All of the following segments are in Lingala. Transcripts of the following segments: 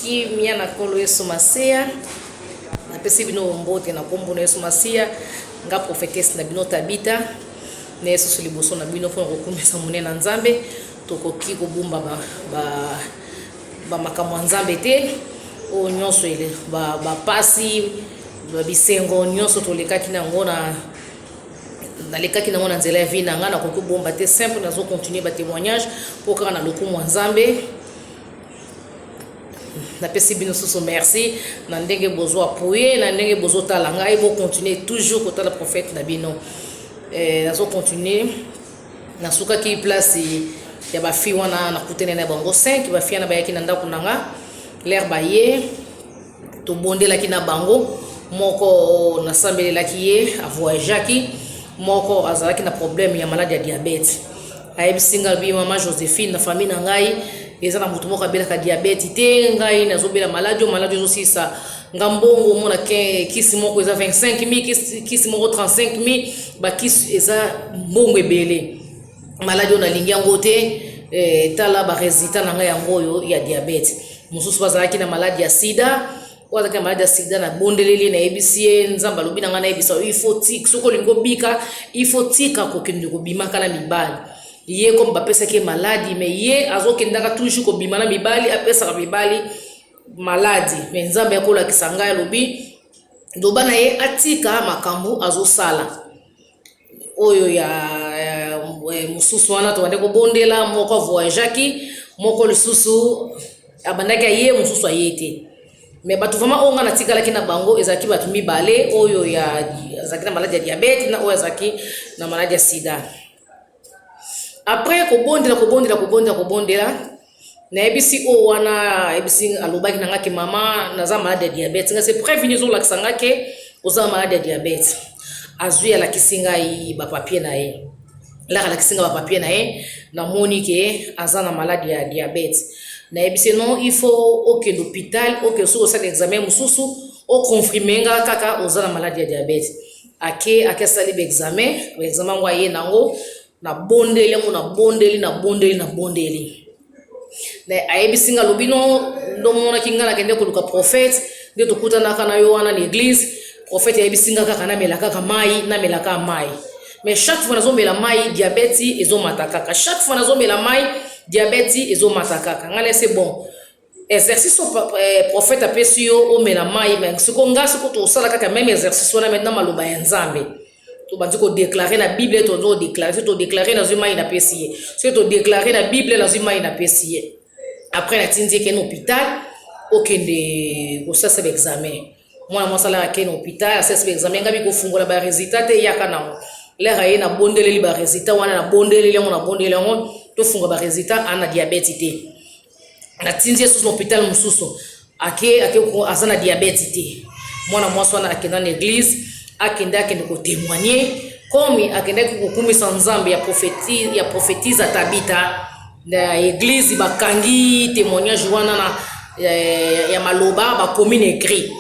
kimia na nkolo yesu masiya napesi bino mbote na nkombo na yesu masiya nga profetese na bino tabita na yesusu liboso na bino mpona kokumisa monene na nzambe tokoki kobumba bamakambo ya nzambe te oyo nyonso bapasi bisengo nyonso tolekaki na yango na nalekaki nango na nzela ya vie na ngai nakoki kobomba te simple nazo continuer ba témoignage mpo kaka na lokumu ya nzambe napesi bino susu merci na ndenge bozwa poye na ndenge bozotala ngai bocontinue toujours kotala prophète na bino eh, nazo continue nasukaki place ya bafille wana nakutani na bango 5 bafille wana bayaki na ndako na nga lere baye tobondelaki na bango moko nasambelelaki ye avoyageaki moko azalaki na problème ya maladi ya diabete ayebisi ngai alobi mama josephine na famille na ngai eza na moto moko abelaka diabete te ngai nazobela maladi oyo maladi ezosilisa nga mbongo omona kisi moko eza 25 000 kisi moko 35 000 bakisi eza mbongo ebele maladi oyo nalingi yango te eh, tala baresultat na ngai yango oyo ya diabete mosusu bazalaki na maladi ya sida oyo azalaki na maladi ya sida nabondeleli nayebisi ye nzambe alobi na ngai nayebisa yo ifo tika soki olingi obika ifo tika kokende kobimaka na mibali ye comme bapesaki ye maladi me ye azokendaka toujours kobima na mibali apesaka mibali maladi me nzambe akolakisa ngai alobi loba na ye atika makambo azosala oyo ya eh, mosusu wana tobandaki kobondela moko avoyageaki moko lisusu abandaki aye mosusu aye te me bato vraimen oyo ngai natikalaki na bango ezalaki bato mibale oyo azalaki na maladi ya diabete na oyo azalaki na maladi ya sida apres kobondela kobondela kobondela kobondela Nayebisi oyo wana ayebisi alobaki na nga ke mama naza malade ya diabete nga se preuve nini ezolakisa nga ke oza malade ya diabete azwi alakisi ngai bapapie na ye laka alakisi ngai bapapie na ye namoni ke aza na malade ya diabete nayebisi non il faut okende hôpital okende soki osala examen mosusu oconfirme nga kaka oza na malade ya diabete ake ake asali baexamen baexamen yango aye nango nabondeli yango nabondeli nabondeli nabondeli na ayebisi nga alobi no ndomonaki nga nakende koluka prophète nde tokutanaka na yo wana na eglise prophète ayebisi nga kaka namela kaka mai namela kaka mai mais chaque fois nazomela mai diabeti ezomata kaka chaque fois nazomela mai diabeti ezomata kaka ngai nase bon Exercice oyo pa- eh, prophète apesi yo omela mai me siko nga siko tosala kaka meme exercice wana maintenant maloba ya nzambe tobandi kodeklare na bible tozo kodeklare soki todeklare nazwi mai napesi ye soki todeklare na bible nazwi mai napesi ye après natindi ekende hôpital okende kosasa baexamen mwana mwasi alaka kende hôpital asasi baexamen ngai bikofungola baresultat te eyaka nango lere aye nabondeleli baresultat wana nabondeleli yango nabondeleli yango tofunga baresultat ana diabete te natindi ye susu na hôpital mosusu ake ake aza na diabète te mwana mwasi wana akenda na église akende akende kotémoigne komi akendaki kokumisa nzambe ya prophétise ya prophétise atabita na église bakangi témoignage wana na eh, ya maloba bakomi na écrit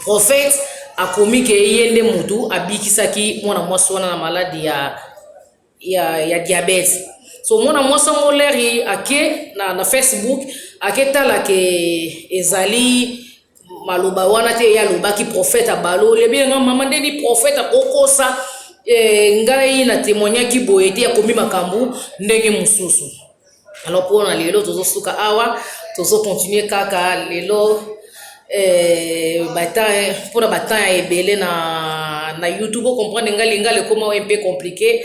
prophète akomi ke ye nde motu abikisaki mwana mwasi wana na maladi ya ya, ya diabète so mwana mwasi yango leri ake na, na facebook aketala ke ezali maloba wana te ye alobaki profete abaloli ebie nga mama nde ni profete akokosa e, ngai na temoignaki boye te akomi makambo ndenge mosusu alors pona lelo tozosuka awa tozocontinue kaka lelo eh, mpona batemp ya ebele na, na youtube ocomprendre ngai lingala ekoma mpe compliqué